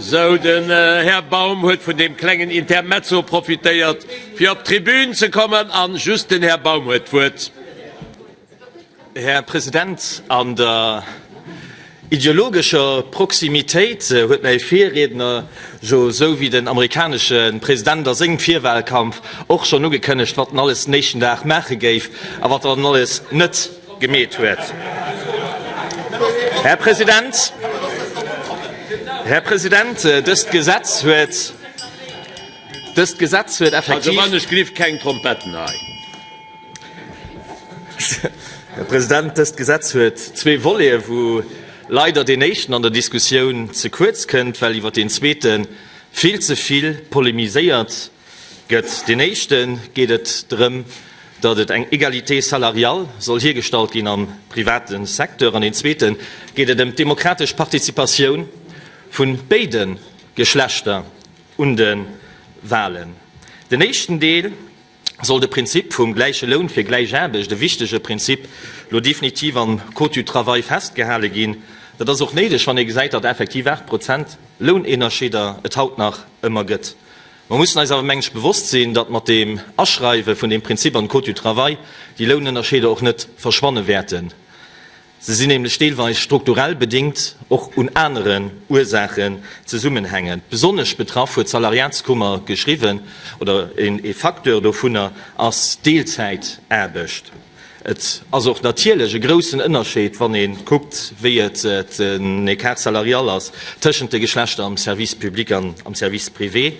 Sou, den Här Baum huet vun deem klengen Intermezzo profitéiert, fir op d'Tribün ze kommen. A just den Här Baum huet d'Wuert. Här President, an der ideologescher Proximitéit huet mäi Virriedner jo, sou wéi den amerikanesche President a sengem Virwahlkampf, och schonn ugekënnegt, wat en alles den éischten Dag maache géif a wat en alles net. gemeet huet. Här President, Här President, dëst Gesetz huet, dëst Gesetz huet effektiv. Also, ech gleef keng Trompetten hei. Här President, dëst Gesetz huet zwee Voleten, wou leider deen éischten an der Diskussioun ze kuerz kënnt, well iwwert deen zweete vill ze vill polemiséiert Gëtt deen éischten, geet et drëm, datt et eng Égalité salariale soll hiergestallt ginn am private Secteur, an deen zweeten, geet et ëm d'demokratesch Participatioun vu béide Geschlechter un de Wahlen. Den éischten Deel soll de Prinzip vum gläiche Loun fir gläich Aarbecht, e wichtege Prinzip, elo definitiv am Code du travail festgehale ginn. Dat ass och néideg, wann ee gesäit, datt effektiv 8 Prozent Lounënnerscheeder et haut nach ëmmer gëtt. Mer mussen eis awer, mengen ech, bewosst sinn, datt mat dem Aschreiwe vun deem Prinzip an de Code du travail déi Lounënnerscheeder och net verschwanne wäerten. Se sinn nämlech deelweis strukturell bedingt, och un aneren Ursaachen zesummenhängend. Besonnesch betraff, huet d'Salariatskummer geschriwwen, oder ee Facteur dovunner ass d'Deelzäitaarbecht. Et ass och natierlech e groussen Ënnerscheed, wann ee kuckt, wéi et den Écart salarial ass tëschent de Geschlechter am Service public an am Service privé.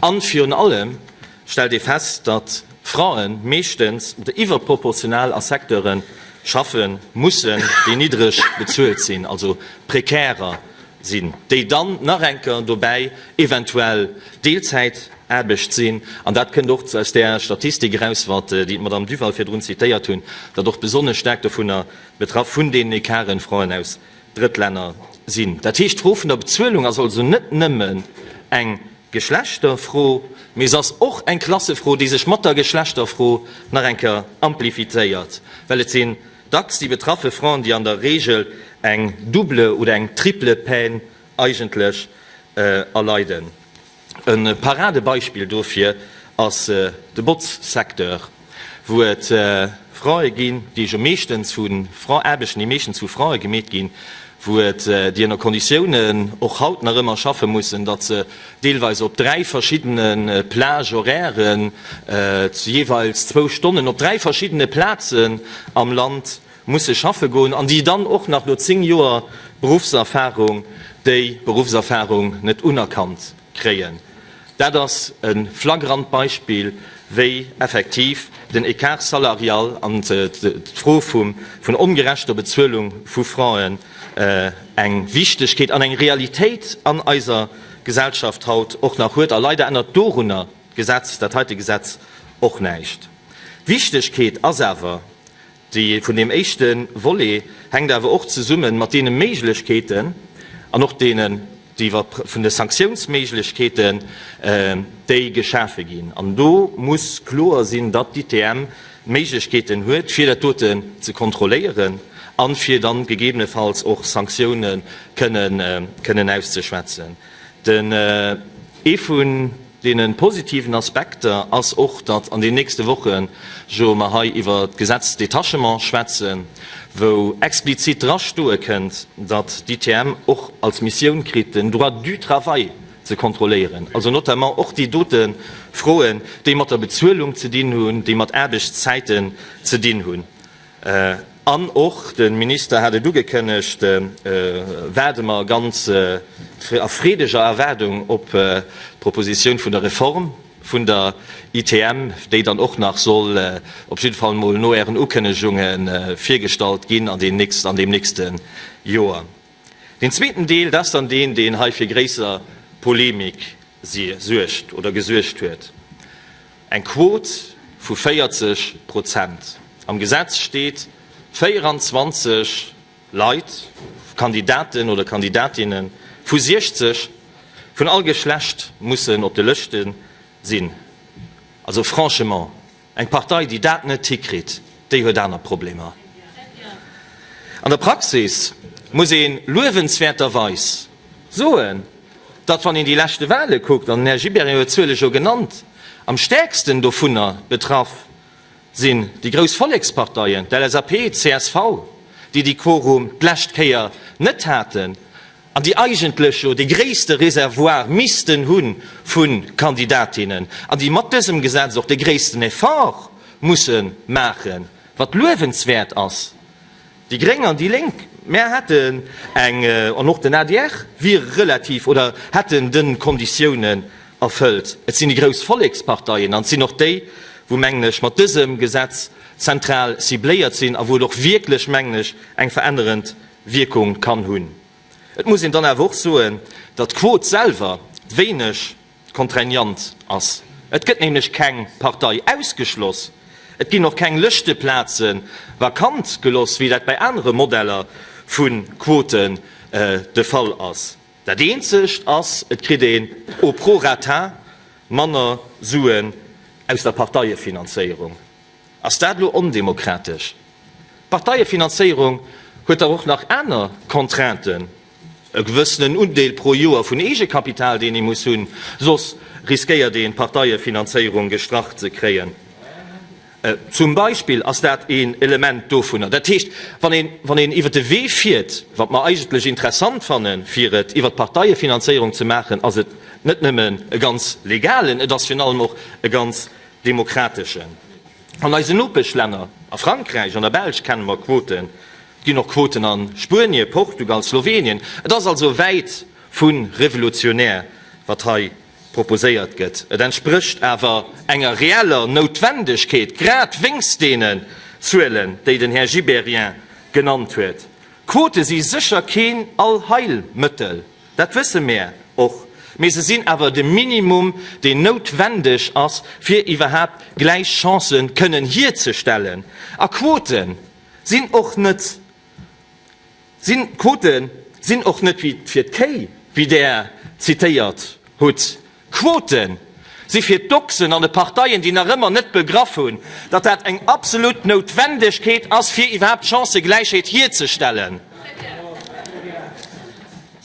A virun allem stellt ee fest, datt Frae meeschtens oder iwwerproportional a Secteure schaffe mussen, déi niddreg bezuelt sinn, also prekärer sinn, déi dann nach enker dobäi eventuell Deelzäit Aarbecht sinn. An dat kënnt och aus där Statistik eraus, wat déi d'Madame Duval virdrun zitéiert hunn, datt och besonnesch staark dovunner betraff, vun deenen Ecarten, Fraen aus Drëttlänner sinn. Dat heescht, d'Fro vun der Bezuelung ass also net nëmmen eng Geschlechterfro, mee se ass och eng Klassefro, déi sech mat der Geschlechterfro nach eng Kéier amplifizéiert, well et sinn dacks déi betraffe Fraen, déi an der Reegel eng double oder eng triple Peine eigentlech erleiden. E Paradebeispill dofir ass de Botzsecteur, wou et Frae ginn, déi jo meeschtens vu Fra, Aarbechten, déi meeschtens vu Frae gemeet ginn, wou et déi ënner Konditiounen och haut nach ëmmer schaffe mussen, datt se deelweis op dräi verschiddene Plage horairen, jeeweils zwou Stonnen op dräi verschiddene Plazen am Land, musse schaffe goen an déi dann och nach no zéng Joer Beruffserfahrung déi Beruffserfahrung net unerkannt kréien. Dat ass e flagrant Beispill, wéi effektiv den Écart salarial an d'Fro vun ongerechter Bezuelung vu Frauen eng Wichtigkeet an eng Realitéit an eiser Gesellschaft haut och nach huet. A leider ännert dorunner d'Gesetz, dat heite Gesetz, och näischt. D'Wichtigkeet ass awer, D'Iddi vun deem éischte Volet hänkt awer och zesumme mat deene Méiglechkeeten an och deenen, déi iwwer vun de Sanktiounsméiglechkeeten, déi geschafe ginn. An do muss kloer sinn, datt d'ITM d'Méiglechkeeten huet, fir dat dote ze kontrolléieren a fir dann gegebenefalls och Sanktioune kënnen auszeschwätzen. Den ee vun. Deene positiven Aspekter ass och, datt an den nächste Woche jo mer hei iwwer d'Gesetz Detachement schwätzen, wou explizit dra stoe kënnt, datt d'ITM och als Missioun kritt, den Droit du travail ze kontrolléieren, also notamment och déi dote Froen, déi mat der Bezuelung ze dinn hunn, déi mat Aarbechtszäiten ze dinn hunn. An och de Minister hat et ugekënnegt, waarde mer ganz a freedeger Erwaardung op d'Propositioun vun der Reform vun der ITM, déi dann och nach soll op jidde Fall emol no Ären Ukënnegunge virgestallt ginn an deem nächste Joer. Deen zweeten Deel, dat ass dann deen, deen hei fir gréisser Polemik suergt oder gesuergt huet. Eng Quot vu 40 Prozent. Am Gesetz steet 24 Leit, Kandidaten oder Kandidatinne vu 60, vun all Geschlecht mussen op de Lëschte sinn. Also franchement, eng Partei, déi dat net hikritt. Déi huet aner Problemer. An der Praxis muss ee luewenswäerterweis soen, datt, wann een déi leschte Wale kuckt, an den Här Gibéryen huet d'Zuele jo genannt, am stäerksten dovunner betraff sinn déi grouss Volleksparteien, d'LSAP, d'CSV, déi déi Quorum d'lescht Kéier net haten. an déi eigentlech jo dee gréisste Reservoir missten hu vu Kandidatinnen an déi mat dësem Gesetz och dee gréissten Effort musse maachen, wat luewenswäert ass. Déi Gréng an déi Lénk, mär hätten eng, an och den adr wier relativ oder hätten de Konditiounen erfëllt. Et sinn déi grouss Volleksparteien an et sinn och déi, wou, mengen ech, mat dësem Gesetz zentral cibléiert sinn a wou et och wierklech, mengen ech, eng verännerend Wierkung kann hunn. Et muss een dann awer och soen, datt d'Quot selwer wéineg contraignant ass. Et gëtt nämlech keng Partei ausgeschloss, et ginn och keng Lëschteplaze vakant geloss, wéi dat bei anere Modeller vu Quoten de Fall ass. Dat eenzegt ass, et kritt een au prorata manner Suen aus der Parteiefinanzéierung. Ass dat elo ondemokratesch? D'Parteiefinanzéierung huet dach och nach aner Contrainten, e gewëssenen Undeel pro Joer vun Eegekapital, deen ee muss hunn, soss riskéiert een d'Parteiefinanzéierung gestrach ze kréien zum Beispill. Ass dat een Element dovunner? Dat heescht, wann een, wann een iwwert de Wee fiert, wat mer eigentlech interessant fannen, fir et iwwert d'Parteiefinanzéierung ze maachen, ass et net nëmmen e ganz legalen, et ass virun allem och e ganz Demokrateschen. An eisen Nopeschlänner, a Frankräich, an der Belsch kenne mer Quoten. Et ginn och Quoten a Spuenie, Portugal, Slowenien. Et ass also wäit vu revolutionär, wat hei proposéiert gëtt. Et entsprécht awer enger reeller Noutwendegkeet, grad wéinst deenen Zuelen, déi den Här Gibéryen genannt huet. Quote si sécher keen Allheilmëttel. Dat wësse mär och, mee se sinn awer de Minimum, deen noutwendeg ass, fir iwwerhaapt gläich Chancë kënnen hierzestellen. A Quote sinn och net sinn Quote sinn och net wéi fir d'Kéi, wéi Der zitéiert hutt. Quoten si fir d'Ochsen an de Parteien, déi nach ëmmer net begraff hunn, datt dat eng absolut Noutwendegkeet ass, fir iwwerhaapt d'Chancëgläichheet hierzestellen.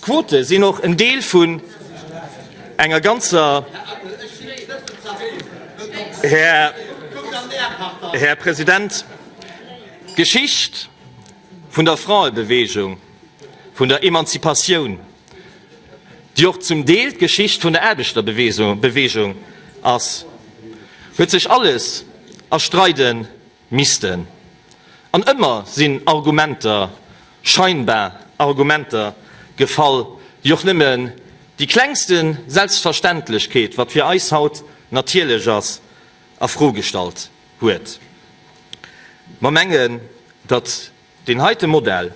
Quote sinn och en Deel vun enger ganzer, Här President, Geschicht vun der Fraebewegung. vun der Emanzipatioun, déi och zum Deel d'Geschicht vun der Aarbechterbewegung ass, huet sech alles erstreide missten. An ëmmer sinn Argumenter, scheinbar Argumenter, gefall, déi och nëmme déi klengste Selbstverständlechkeet, wat fir eis haut natierlech ass, a Fro gestallt huet. Mer mengen, datt. Deen heite Modell,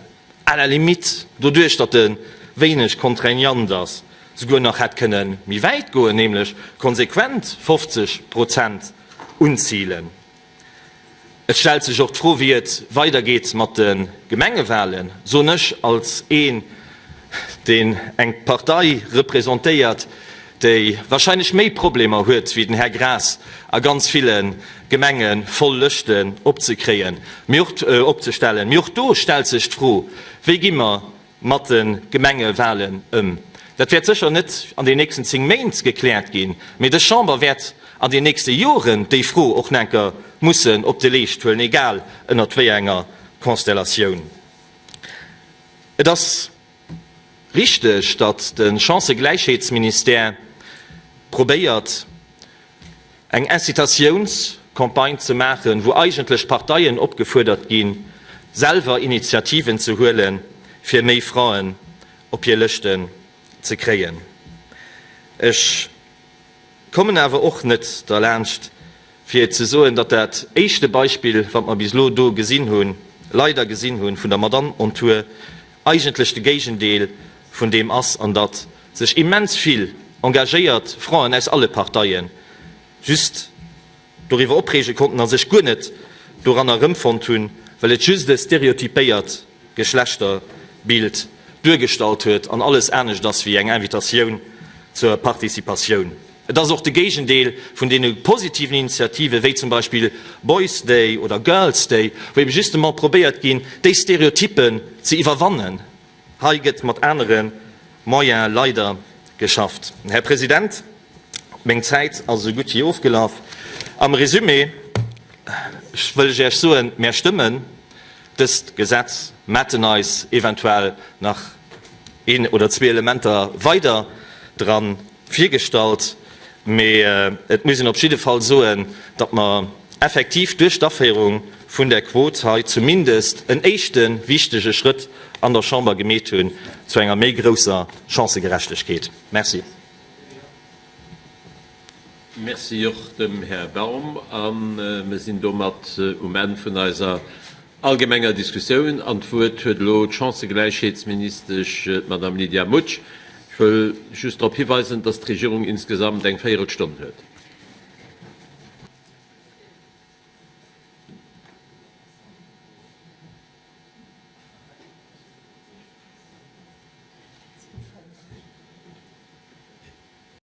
à la limite, doduerch datt e wéineg contraignant ass, souguer nach hätt kënne méi wäit goen, nämlech konsequent 50 Prozent unzilen. Et stellt sech och d'Fro, wéi et weidergeet mat de Gemengewahlen, soen ech als ee deen eng Partei representéiert, déi wahrscheinlech méi Problemer huet wéi den Här Graas a ganz ville Gemenge voll Lëschten opzekréien, mee och opzestellen. Mee och do stellt sech d'Fro, Wéi gi mer mat de Gemengewahlen ëm? Dat wäert sécher net an den nächsten zéng Méint gekläert ginn, mee des Chamber wäert an den nächste Joren déi Fro och nach enker mussen op de Leescht huelen, egal ënnert wéi enger Konstellatioun. Et ass richteg, datt de Chancëgläichheetsministère probéiert, eng Incitatiounscampagne ze maachen, wou eigentlech d'Parteien opgefuerdert ginn, selwer Initiativen ze huelen, fir méi Fraen op hir Lëschten ze kréien. Ech Kommen awer och net derlaanscht, fir ze soen, datt dat éischte Beispill, wat mer bis elo do gesinn hunn, leider gesinn hunn, vun der Madame on Tour eigentlech de Géigendeel vun deem ass an datt sech immens vill engagéiert Frauen aus alle Parteie just doriwwer opreege konnten a sech guer net doranner erëmfonnt hunn, well et just e stereotypéiert Geschlechterbild duergestallt huet an alles anescht ass wéi eng Invitatioun zur Participatioun. Et ass och de Géigendeel vun deene positiven Initiative wéi zum Beispill Boys Day oder Girls Day, wou ebe justement probéiert ginn, déi Stereotyppen ze iwwerwannen. Hei gëtt mat anere Moyene leider geschafft. Här President, meng Zäit ass esou gutt wéi ofgelaf. Am Resumé wëll ech Iech soen, Mär stëmme Dëst Gesetz maten eis eventuell nach een oder zwee Elementer weider dran virgestallt, mee et muss een op jidde Fall soen, datt mer effektiv duerch d'Aféierung vun där Quot hei zumindest en éischte wichtege Schrëtt an der Chamber gemeet hunn zu enger méi grousser Chancëgerechtegkeet. Merci. Merci och dem Här Baum. A mir sinn domat um Enn vun eiser allgemenger Diskussioun. An d'Wuert huet elo d'Chancëgläichheetsministesch, d'Madame Lydia Mutsch. Ech wëll just drop hiweisen, dass d'Regierung insgesamt eng Véierelstonn huet.